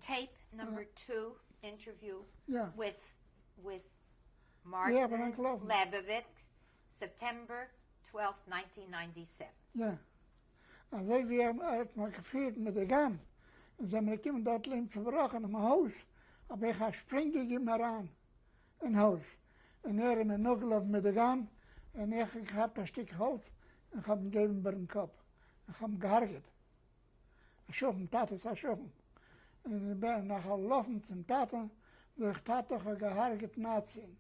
טעיפ נאמבער טו אינטערוויו וויט וויט מארטין לעבעוויטץ סעפטעמבער טוועלפט ניינטין ניינטי סעווען. יא. אזוי ווי ער האט מיך געפירט מיט די גאן און זעמיר געקומען דארט לעבן צובראכענעם הויז האב איך א שפרינג געגעבן אריין אין הויז און ער איז מיר נאכגעלאפן מיט די גאן און איך האב געכאפט א שטיק האלץ און כ'האב אים געבן איבערן קאפ און כ'האב אים געהארגעט. א שכן, טאטע איז א שכן, און איך בין נאכגעלאפן צום טאטע, זאג איך, טאטע איך האב געהארגעט נאצי'ן,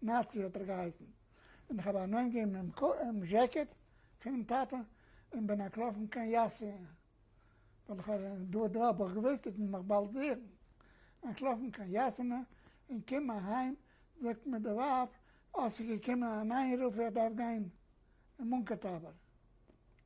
נאצי האט ער געהייסן, און איך האב אנעים געגעבן דעם זשעקעט פונעם טאטע און בין אנטלאפן קיין יאסי, ווייל איך האב דא דא האב איך געוואוסט ער וועט מיך באלד זוכן, אנטלאפן קיין יאסענע און קום אהיים זאגט מיר די ווייב, אה ס'איז געקומען אן איינרוף איך דארף גיין אין מונקאטאווער.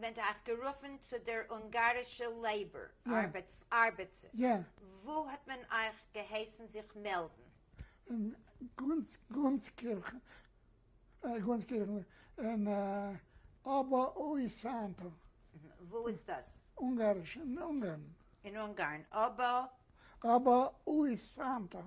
מען האט גערופן צו דער אונגארישע לעיבאר ארבעטס וואו האט מען אייך געהייסן זיך מעלדן? אין גאנצקירכן אין אבא אוי סענטער. וואו איז דאס? אונגאריש אין אונגארן. אין אונגארן אבא. אבא אוי סענטער.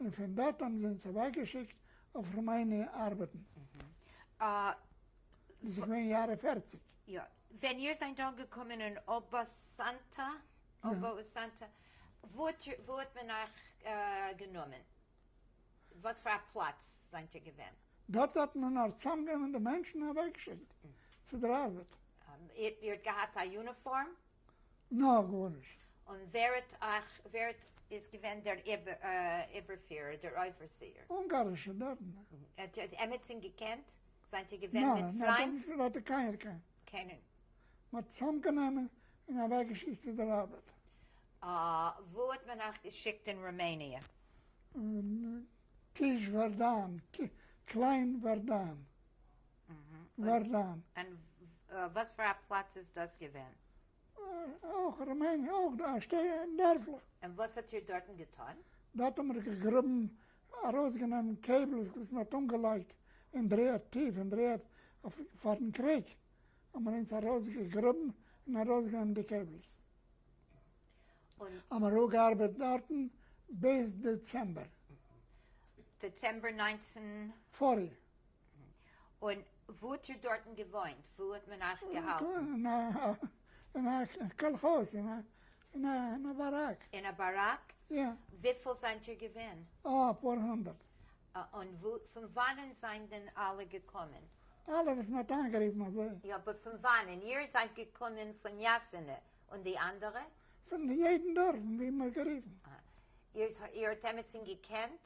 און פון דארט האבן זיי אונז אוועקגעשיקט אויף ראמעיניע ארבעטן. דאס איז געווען יארע פערציג. יא. ווען איר זענט אנגעקומען אין אבאסאנטא, Obausanta, וואו האט מען אייך גענומען? וואס פאר א פלאץ זענט איר געווען? דארט האט מען נאר צוזאמגענומען די מענטשן און אוועקגעשיקט צו דער ארבעט. איר האט געהאט א יוניפארם? נאר גארנישט. און ווער האט אייך, ווער האט איז געווען דער איבערפירער, דער אויפערסיער? אונגארישע דארטנער. האט ער עמיצן געקענט? זענט איר געווען מיט פריינט? נאר האט ער קיינער קיין. קענען. מען האט צאם גענומען און אוועק געשיקט צו דער ארבעט. וואו האט מען אייך געשיקט אין רומעניע? קיש ווערדאן, קליין ווערדאן. ווערדאן. און וואס פאר א פלאץ איז דאס געווען? אויך ראמעניע, אויך דא א דערפלעך. און וואס האט איר דארטן געטון? דארט האבן מיר געגראבן, ארויסגענומען קעיבלס וואס מען האט אנגעלייגט אין דער ערד, טיף אין דער ערד, פארן קריג, האבן מיר אונז ארויסגעגראבן און ארויסגענומען די קעיבלס. האבן מיר אפגעארבעט דארטן ביז דעצעמבער. דעצעמבער נײַנצן. פארי. און וואו האט איר דארטן געוואוינט? וואו האט מען אייך געהאלטן? אין א קאלכאז', אין א באראק. אין א באראק? יא. וויפיל זענט איר געווען? א פאר הונדערט. און פון וואנען זענען אלע געקומען? אלע וואס מען האט איינגערופן אזוי. יא, אבער פון וואנען? איר זענט געקומען פון יאסינע, און די אנדערע? פון יעדן דארף ווי מען האט גערופן. איר האט עמיצן געקענט?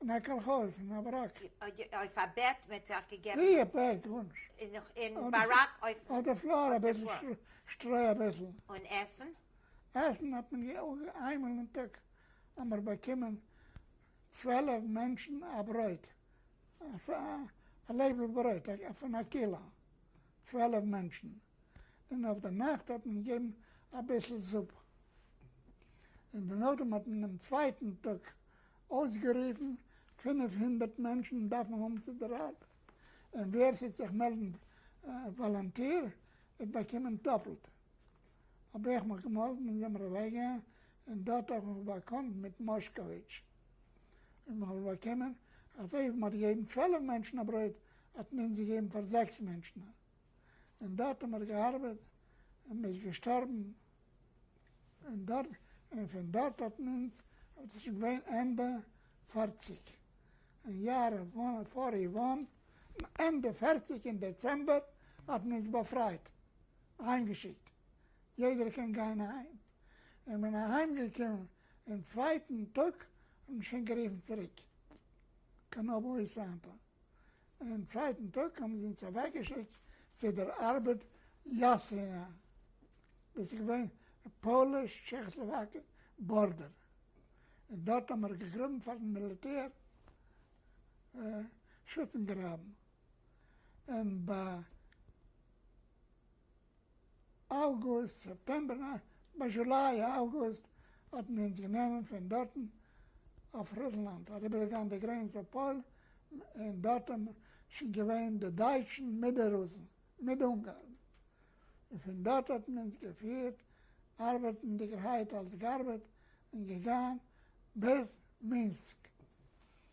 אין א קאלכאז אין א באראק. אויף א בעט מען האט זיך געגעבן. ווי א בעט? גארנישט. אין באראק אויפן. אויף די פלאר אביסל שטרוי אביסל. און עסן? עסן האט מען איינמאל אין טאג האבן מיר באקומען צוועלף מענטשן א ברויט, א לעבל ברויט פון א קילא, צוועלף מענטשן, און אויף די נאכט האט מען געגעבן אביסל זופ, און דערנאך האט מען דעם צווייטן טאג. אויסגערופן, פינף הונדערט מענטשן דארפן האבן צו דער ארבעט, און ווער ס'וועט זיך מעלדן וואלונטיר וועט באקומען דאפלט. האב איך מיך געמאלדן אין דעם רוועגע, און דארט האב איך מיך באקאנט מיט מאשקאוויטש, און מיר האבן באקומען אז אויב מ'האט געגעבן צוועלף מענטשן א ברויט, האט מען אונז געגעבן פאר זעקס מענטשן א. און דארט האט מען געארבעט און מען איז געשטארבן און דארט און פון דארט האט מען אונז וואס איז שוין געווען ענדע פֿערציק און יאר פאר איוואן ענדע פֿערציק און דעצעמבער האט מען אונז באפרייט אהיים געשיקט יעדער קען גיין אהיים און מען אהיים געקומען און צווייטן טאג האט מען שוין גערופן צוריק קיין אבוי סאנטא אינעם צווייטן טאג האבן זיי אונז אוועקגעשיקט צו דער ארבעט יאסינא, דאס איז געווען די פאליש-טשעכאסלאוואקיע בארדער, און דארט האבן מיר געגראבן פאר'ן מיליטער שוטצן גראבן, און ביי. אַוגוסט, סעפּטעמבער, נײַן, בײַ זשולײ, אַוגוסט, האָט מען אונדז גענומען פֿון דאָרטן אױף רוסלאַנד, אַריבערגעגאַן די גרענעץ אױף פּױלן, און דאָרט האָבן שױן געװען די דײַטשן מיט די רוסן, מיט די אונגאַרן, און פֿון דאָרט האָט מען אונדז געפֿירט, אַרבעטנדיקערהײט אַלס גאַרבעט, און געגאַן ביז מינסק,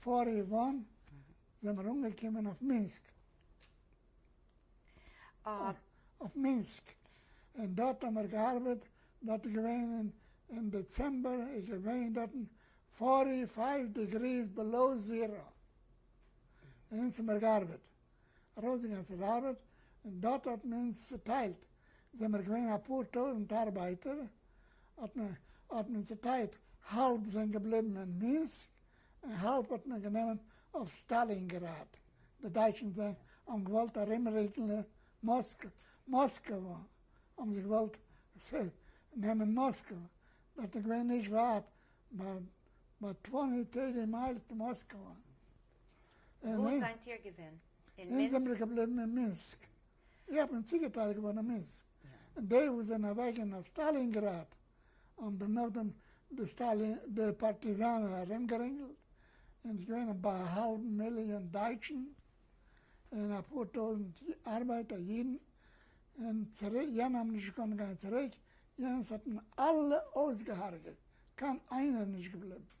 פאר איוואן זעמער אנגעקומען אויף מינסק, אויף מינסק, און דארט האמער געארבעט, דארט איז געווען אין אין דעצעמבער איז געווען דארטן פארטי פייוו דעגריס בעלאו זירא, און אונז האמער געארבעט. ארויס די גאנצע ארבעט, און דארט האט מען אונז צוטיילט, זעמער געווען אפאר טויזנט ארבייטער, האט מען האט מען צוטיילט, האלב זענען געבליבן אין מינסק, און האלב האט מען גענומען אויף סטאלינגראד, די דייטשן האבן געוואלט ארומריקן מאסקווע, האבן זיי געוואלט נעמען מאסקווע, דארט איז געווען נישט ווייט, ביי טווענטי טערטי מיילס טו מאסקווע. וואו זענט איר געווען? אין מינסק? אונז זעמיר געבליבן אין מינסק. איך בין צוגעטיילט געווארן אין מינסק. די וואס זענען אוועקגעגאנגען אויף סטאלינגראד האבן דעם נאכדעם די פארטיזאנער ארומגערינגלט און עס געווען ביי א האלב מיליאן דייטשן און אפאר טויזנט ארבייטער אידן און צוריק, יענע האבן נישט געקאנט גיין צוריק, יענס האט מען אלע אויסגעהארגעט, קיין איינער איז נישט געבליבן.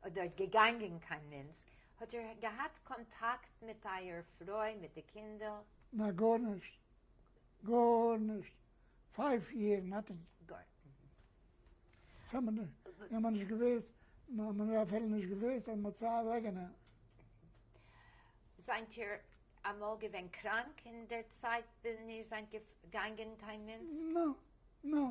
אדער געגאנגען קיין מינץ? האט איר געהאט קאנטאקט מיט אייער פרוי, מיט די קינדער? נאר גארנישט. גארנישט. פייוו יער, נאטינג. גאר. מיר האמער נישט געוואוסט, מיר האמער אפילו נישט געוואוסט אז מ'האט סיי אוועקגענומען. זענט איר אמאל געווען קראנק אין דער צייט ווען איר זענט געגאנגען קיין מינץ? נאו. נאו.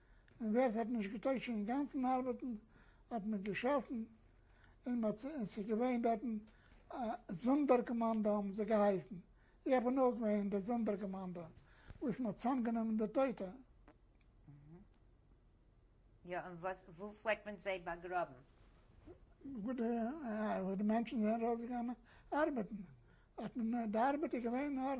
און ווער ס'האט נישט געטויגט שוין אינגאנצן ארבעטן האט מען געשאסן און מ'האט און ס'איז געווען דארטן א זאנדערקאמאנדא האבן זיי געהייסן, איך בין אויך געווען אין די זאנדערקאמאנדא וואס מ'האט צוזאמגענומען די טויטע. יא און וואס וואו פלעגט מען זיי באגראבן? וואו די וואו די מענטשן זענען ארויסגעגאנגען ארבעטן האט מען די ארבעט איז געווען נאר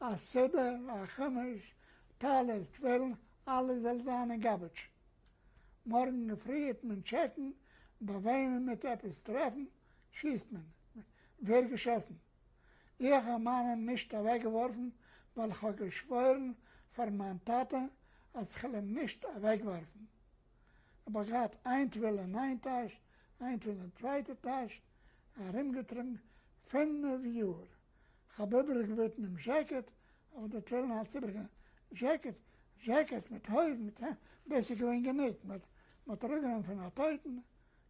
א סדר, א חומש, טלית, תפילין, אלעס זאל זיין אין גאבעדזש. מארגן פרי העט מען טשעקן ביי וועמען מען העט עפעס טרעפן, שיסט מען. ווערט געשאסן. איך האב מיינע נישט אוועקגעווארפן ווייל איך האב געשוואוירן פאר מיין טאטע אז כ'על אים נישט אוועקווארפן. כ'האב אויך געהאט איין טבילה אין איין טאש, איין טבילה אין צווייטע טאש, ארומגעטראגן פינף יאר. כ'האב איבעריג געבעטן דעם זשעקעט, אבער דער טרעלינער האט איבעריג גענומען זשעקעטס, זשעקעטס מיט הויזן, מיט העמד, דאס איז געווען גענוג, מען האט אראפגענומען פון א טויטן און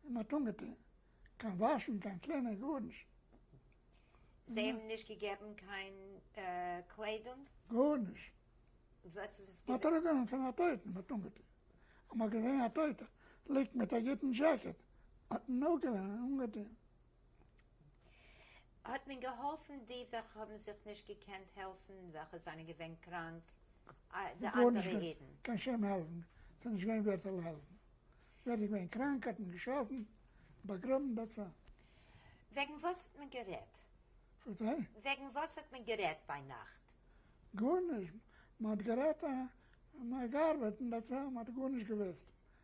מען האט אנגעטון, קיין וואשן, קיין קלינען, גארנישט. זיי האבן נישט געגעבן קיין קליידונג? גארנישט. מען האט אראפגענומען פון א טויטן מען האט אנגעטון, אז מען האט געזען א טויטער ליגט מיט א גוטן זשעקעט, האט מען אויך גענומען און אנגעטון. האט מען געהאלפן די וועלכע האבן זיך נישט געקענט העלפן, וועלכע זענען געווען קראנק, די אנדערע אידן. קיין שום העלפן, ס'איז נישט געווען ווער זאל העלפן, ווער איז געווען קראנק האט מען געשלאפן, באגראבן, דעטס אלל. וועגן וואס האט מען גערעדט? ווטע? וועגן וואס האט מען גערעדט ביינאכט? גארנישט, מען האט גערעדט, מען האט געארבעט און דעטס אלל, מען האט גארנישט געוואוסט,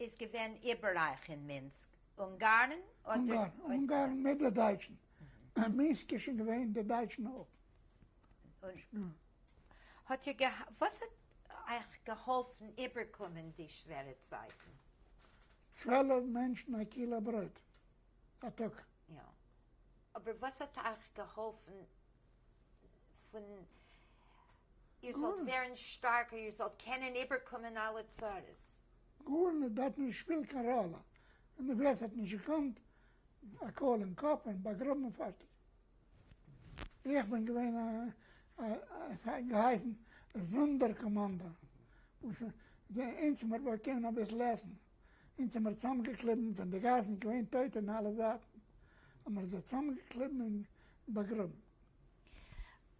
איז געווען איבעררייך אין מינסק, אונגארן אדער? אונגארן מיט די דייטשן, מינסק איז שוין געווען די דייטשן אויך. האט איר געהא, וואס האט אייך געהאלפן איבערקומען די שווערע צייטן? צוועלף מענטשן א קילא ברויט א טאג. יא, אבער וואס האט אייך געהאלפן? פון איר זאלט ווערן שטארקער, איר זאלט קענען איבערקומען אלע צרות. גארנישט האט דארט נישט געשפילט קיין ראלע, און די וועלט האט נישט געקאנט, א קאל אין קאפ און באגראבן און פארטיג. איך בין געווען א, עס האט געהייסן, זאנדער קאמאנדא, וואס אונז האט מען באקומען אביסל עסן, אונז האמיר צוזאמגעקליבן פון די גאס און געווען טויטע אין אלע זייטן, האמיר זיי צוזאמגעקליבן און באגראבן.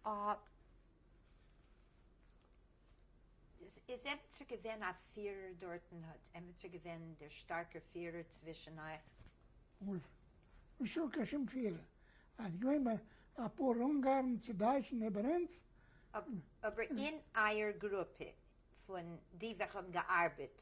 אויב איז עמיצער געווען א פירער דארטן, האט עמיצער געווען דער שטארקער פירער צווישן אייך? וואס? נישטא קיין שום פירער. אז ס'איז געווען אפאר אונגארן צו דייטשן איבער אונז. אבער אין אייער גרופע פון די וועלכע האבן געארבעט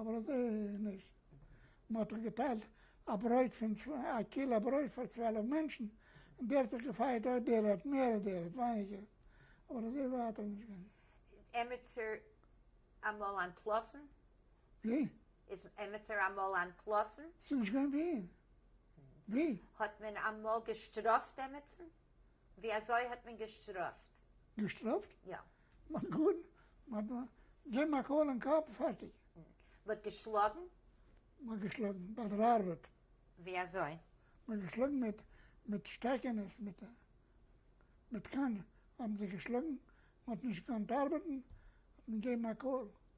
אבער אזוי איז נישט. מען האט דאך געטיילט א ברויט פון צוויי, א קילא ברויט פאר צוועלף מענטשן, און דער האט זיך געפייעט אויב דער האט מער און דער האט ווייניגער, אבער אזוי ווייט האט נישט געווען. איז עמיצער אמאל אנטלאפן? ווי? איז עמיצער אמאל אנטלאפן? ס'איז נישט געווען ווען. ווי? האט מען אמאל געשטראפט עמיצן? ווי אזוי האט מען געשטראפט? געשטראפט? יא. נאט גוד, נאט ב. געב מיר א קאל אין קאפ, פארטיג. מען האט געשלאגן? מען האט געשלאגן, באדרארעט. ווי אזוי? מען האט געשלאגן מיט מיט שטעקענעס, מיט מיט קאן האבן זיי געשלאגן, מען האט נישט געקאנט ארבעטן, האט מען געבן א קאל,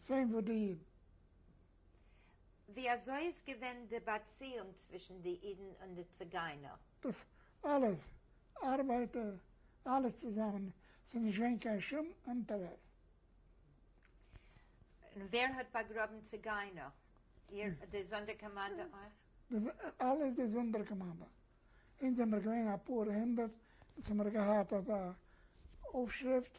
צוויי ווידעא'ן. ווי אזוי איז געווען די באציאונג צווישן די אידן און די ציגיינער? דאס אלעס, ארבייטער, אלעס צוזאמען, ס'איז נישט געווען קיין שום אינטערעס. און ווער האט באגראבן ציגיינער? איר, די זאנדערקאמאנדע אויך? דאס אלעס די זאנדערקאמאנדע. אונז זעמער געווען אפאר הונדערט, אונז האמער געהאט אזא אויפשריפט.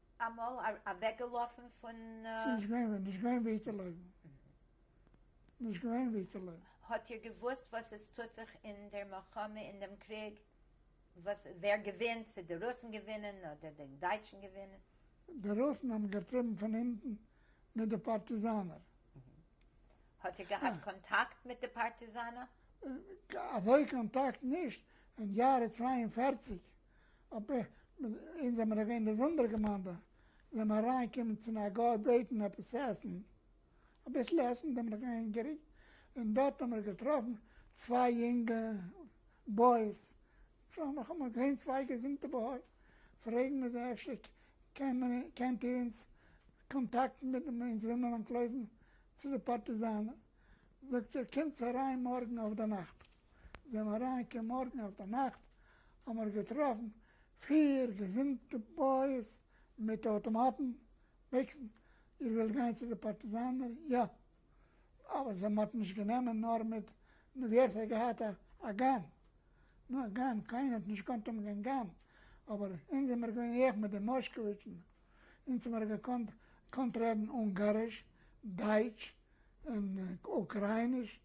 אמאל אוועקגעלאפן פון. ס'נישט געווען ווען, נישט געווען ווי צו לויפן. נישט געווען ווי צו לויפן. האט איר געוואוסט וואס עס טוט זיך אין דער מלחמה, אין דעם קריג? וואס, ווער געווינט, צו די רוסן געווינען אדער די דייטשן געווינען? די רוסן האבן געטריבן פון הינטן מיט די פארטיזאנער. האט איר געהאט קאנטאקט מיט די פארטיזאנער? אזוי קאנטאקט נישט, אין יארע צוויי און פֿערציק אָ פּ, אונז זעמער געווען באזונדערע געמיינדע, זעמער אריינגעקומען צו א גוי בעטן עפּעס עסן, א ביסל עסן, זעמער נאָך הונגעריג, און דאָרט האָמער געטראָפן צוויי יונגע בויס, האָמער געזען צוויי געזונטע בויער, פרעגן מיר זיי אפשר קענט איר אונז קאָנטאַקטן מיט דעם, אונז ווילמער אַנטלויפן צו די פּאַרטיזאַנער, זאָגט ער קומטס אריין מאָרגן אויפדערנאַכט. זעמער אריין כמארגן אויף די נאכט האמער געטראפן פיר געזונטע בויעס מיט אויטאמאטן, ביקסן, איר ווילט גיין צו די פארטיזאנער? יא! אבער זיי מ'האט נישט גענומען נאר מיט נו ווער ס'האט געהאט א גאן, נו א גאן, קיינער האט נישט געקאנט האבן קיין גאן, אבער אונז זעמער געווען איך מיט די מאשקאוויטשן, אונז האמער געקאנט רעדן אונגאריש, דייטש, און אוקרייניש,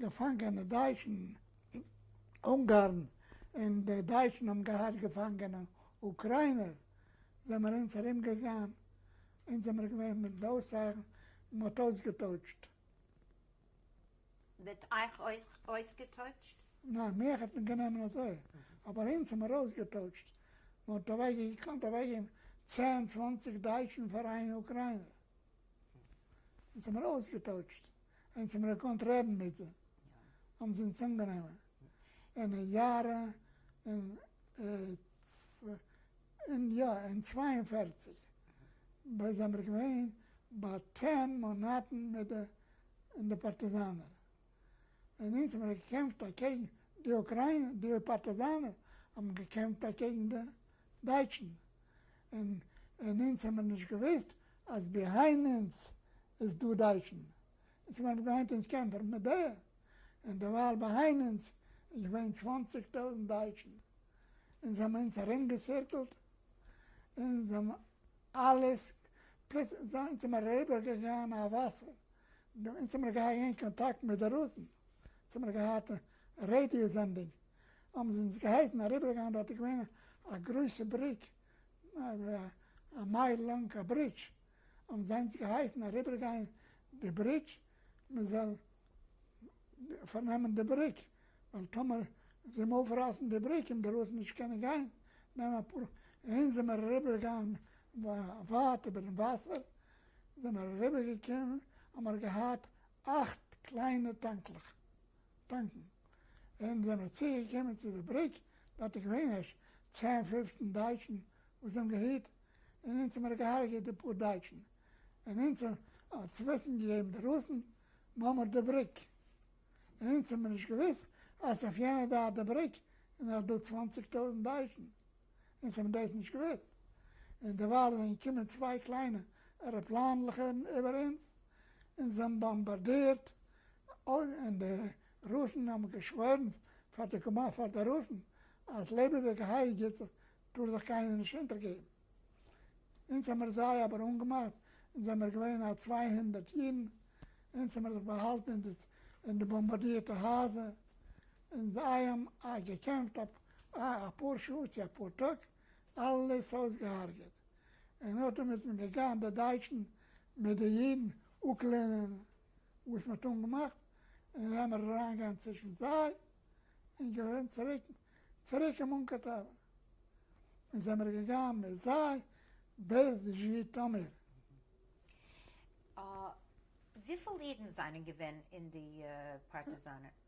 געפאנגענע דייטשן אין אונגארן און די דייטשן האבן געהאט געפאנגענע אוקריינער זעמער אונז ארום געגאן אונז זעמער געווען מיט די אויסזייען און מ'האט אויסגעטויטשט. מיט אייך אויך אויסגעטויטשט? ניין מיך האט מען גענומען אזוי אבער אונז האמער אויסגעטויטשט מ'האט אוועק געקאנט אוועק געבן צען צוואנציג דייטשן פאר איין אוקריינער אונז האמער אויסגעטויטשט. אונז האבן געקאנט רעדן מיט אים, האבן זיי אונז אנגענומען אין יארע אין אין יא אין צוויי און פֿערציק ביי זעמער געווען ביי צען מאנאטן מיט די אין די פארטיזאנער און אונז האבן געקעמפט אקעגן די אוקריינע די פארטיזאנער האבן געקעמפט אקעגן די דייטשן און און אונז האבן נישט געוויסט אז ביהיינד אונז איז דא דייטשן, און ס'וועלן גיין היינט אונז קענטער מיט די, און דערווייל ביהיינד אונז איז געווען צוואנציג טויזנט דייטשן, און זיי האבן אונז ארום געסירקלט, און זיי האבן אלעס, פלוצלינג זיי אונז האבן אריבער געגאן א וואסער, אונז האבן געהאט אין קאנטאקט מיט די רוסן, אונז האבן געהאט רעדיא סענדינג, האבן זיי אונז געהייסן אריבער גיין דארט איז געווען א גרויסע בריק, א מייל לאנג א ברידזש, האבן זיי אונז געהייסן אריבערגיין די ברידזש, מען זאל פארנעמען די בריק, ווייל טאמער זיי האבן אויפרייסן די בריק און דערויסן נישט קענען גיין, נעמען אפאר, אונז זעמער אריבערגעגאנגען ווייט איבערן וואסער, זעמער אריבערגעקומען, האמער געהאט אכט קליינע טאנקלעך. פונקטן. ווען זיי זענען צוגעקומען צו די בריק, דארט איז געווען ערשט צען פופצן דייטשן וואס זיי האבן געהיט, און אונז האבן ער געהארגעט די פאר דייטשן, און אונז האבן האבן צו וויסן געגעבן די רוסן נאמער די בריק, און אונז האבן מיר נישט געוואוסט אז אויף יענע דארט די בריק איז נאך דא צוואנציג טויזנט דייטשן. און ס'האבן דאס נישט געוואוסט, און דערווייל זענען געקומען צוויי קליינע עראפלאנלעכערן איבער אונז, און זיי האבן באמבארדירט, און די רוסן האבן געשוואוירן פאר די קאמאן פאר די רוסן אז לעבעדיגע הייל גוט זיך, טאר זיך קיינער נישט אונטערגעבן. אונז האבן מיר זיי אבער אנגעמאכט, אונז זעמיר געווען א צוויי הונדערט אידן, אונז האבן מיר זיך באהאלטן אין די באמבארדירטע הייזער, און זיי האבן געקעמפט אויף אה, אפאר שעה צו אפאר טאג, אלעס אויסגעהארגעט. און אטום איז מען געגאנגען די דייטשן מיט די אידן אפלערנען וואס מען האט אנגעמאכט, און זיי האבן אריינגעגאנגען צווישן זיי, און געווען צוריק צוריק אין מונקא טאווערן. און זעמער געגאנגען מיט זיי ביז זשיטאמיר. אה, וויפיל אידן זענען געווען אין די פארטיזאנער?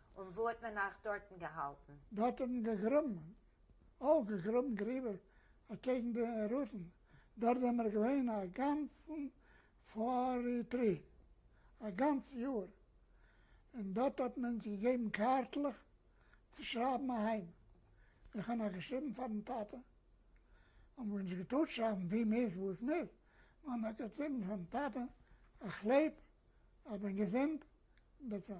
און וואו האט מען אייך דארטן געהאלטן? דארט האט מען געגראבן, אוי געגראבן גריבער אקעגן די רוסן, דארט זעמער געווען א גאנצן פרי תרי, א גאנץ יאר, און דארט האט מען אונז געגעבן קארטלעך צו שרייבן אהיים, איך האב נאך געשריבן פארן טאטע, האבן מיר נישט געטארט שרייבן ווי מ'איז וואו עס מ'איז, מ'האט נאר געשריבן פארן טאטע, איך לעב, איך בין געזונט, דעטס אלל.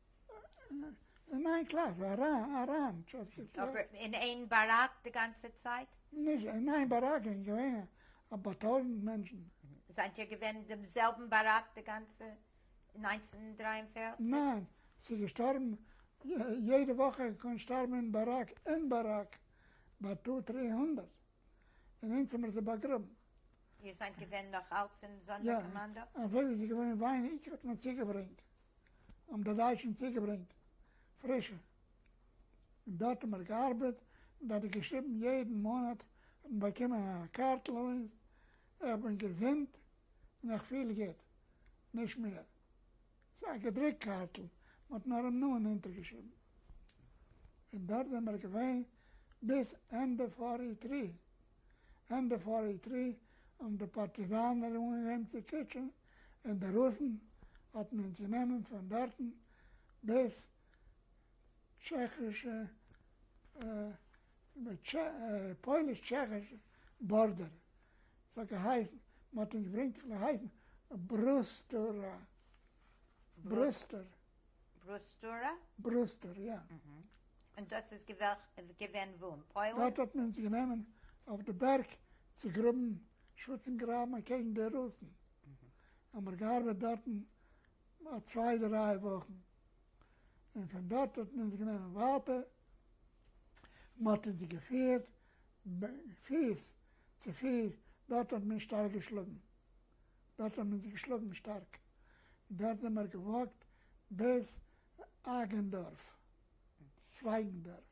אין איין קלאס, אריין. אבער אין איין באראק די גאנצע צייט? נישט אין איין באראק, איז געווען א פאר טויזנט מענטשן. זענט איר געווען אין דעם זעלבן באראק די גאנצע נײַנצן דרײַ און פֿערציק? ניין, ס'איז געשטארבן יעדע וואך, קען שטארבן אין באראק, אין באראק, ביי טו טרי הונדערט. און אונז האמיר זיי באגראבן. איר זיינט געווען נאך אלץ אין סאנדער-קאמאנדא? יא, אזוי ווי ס'איז געווען אין וויין עיקר האט מען צוגעברענגט, האבן די דייטשן צוגעברענגט פרישע, און דארט האמיר געארבעט, און דארט איז געשריבן יעדן מאנאט האט מען באקומען א קארטל אויף אונז, איך בין געזונט און איך פיל גוט, נישט מער. ס'איז א געדרוקט קארטל, מ'האט נאר אים נאמען אונטערגעשריבן. און דארט זעמיר געווען ביז ענדע פארי תרי. ענדע פארי תרי האבן די פארטיזאנער אנגעהויבן צו קוטשען און די רוסן האט מען אונז גענומען פון דארטן ביז טשעכישע פויליש טשעכיש בארדער ס'האט געהייסן מ'האט אונז געברענגט און געהייסן ברוסטורא ברוסטור ברוסטורא? ברוסטור יא. און דאס איז געווען וואו? אין פוילן? דארט האט מען אונז גענומען אויף די בערג צו גראבן שוטצן גראבן אקעגן די רוסן האמער געארבעט דארטן א צוויי דריי וואכן. און פון דארט האט מען אונז גענומען ווייטער, מען האט אונז געפירט פיס צו פיס, דארט האט מען שטארק געשלאגן, דארט האט מען אונז געשלאגן שטארק, דארט זענען מיר געוואקט ביז אייגענדארף, צווייגענדארף.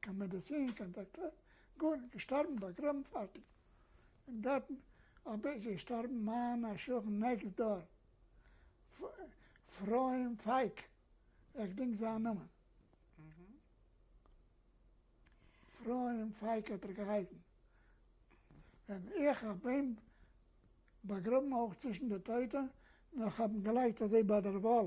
קיין מעדעצין קיין דאקטער גארנישט געשטארבן באגראבן פארטיג אין גארטן אבער איז געשטארבן מיין א שכן נעקסט דאר אפרים פייק איך געדענק זיין נאמען אפרים פייק האט ער געהייסן און איך האב אים באגראבן אויך צווישן די טויטע נאך האבן געלייגט אזוי ביי דער וואל